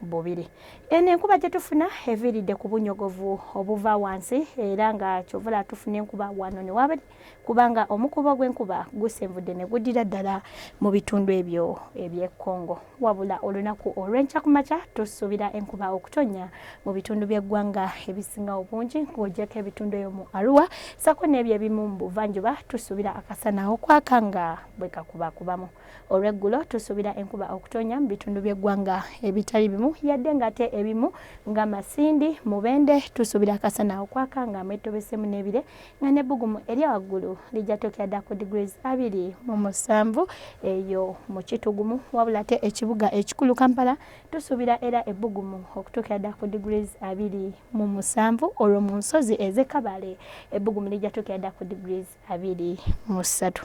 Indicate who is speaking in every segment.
Speaker 1: bubiri. Eno enkuba gye tufuna eviiridde ku bunyogovu obuva wansi era nga kyovula tufuna enkuba wano ne wabiri kubanga omukuba ogw'enkuba gusenvudde ne guddira ddala mu bitundu ebyo eby'e Congo. Wabula olunaku olw'enkya ku makya tusuubira enkuba okutonnya mu bitundu by'eggwanga ebisinga obungi ng'ogyeko ebitundu eyo mu Arua ssaako n'ebyo ebimu mu buvanjuba tusuubira akasana okwaka nga bwe kakubakubamu. Olw'eggulo tusuubira enkuba okutonya mu bitundu by'eggwanga ebitali bimu yadde ng'ate ebimu nga Masindi, Mubende tusuubira akasana okwaka nga mwetobeseemu n'ebire nga n'ebbugumu erya waggulu lijja tokera dda ku degrees abiri mu musanvu eyo mu kitugumu wabula ate ekibuga ekikulu Kampala tusuubira era ebbugumu okutuukira dda ku degrees abiri mu musanvu olwo mu nsozi ez'e Kabale ebbugumu lijja tuukira dda ku degrees abiri mu ssatu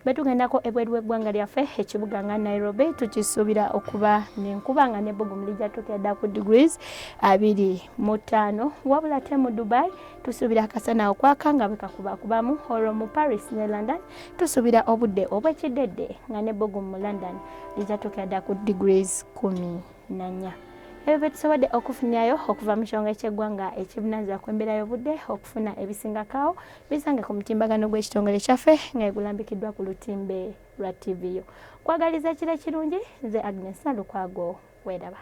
Speaker 1: betugendako ebweru w'eggwanga lyaffe ekibuga nga nairobi tukisuubira okuba nenkuba nga nebbugumu lijja tukeeda ku degrees abiri mu ttaano wabula ate mu dubai tusuubira akasana okwaka nga bwekakubakubamu olwo mu paris ne london tusuubira obudde obwekidedde nga nebbugumu mu london lijja tukeeda ku degrees kumi nanya ebyo byetusobodde okufunirayo okuva mu kyonga ekyeggwanga ekibunanzira ku embeera y'obudde okufuna ebisingakaawo bisange ku mutimbagano gw'ekitongole kyaffe nga egulambikiddwa ku lutimbe lwa tv yo kwagaliza ekiro ekirungi nze agnes nalukwago weeraba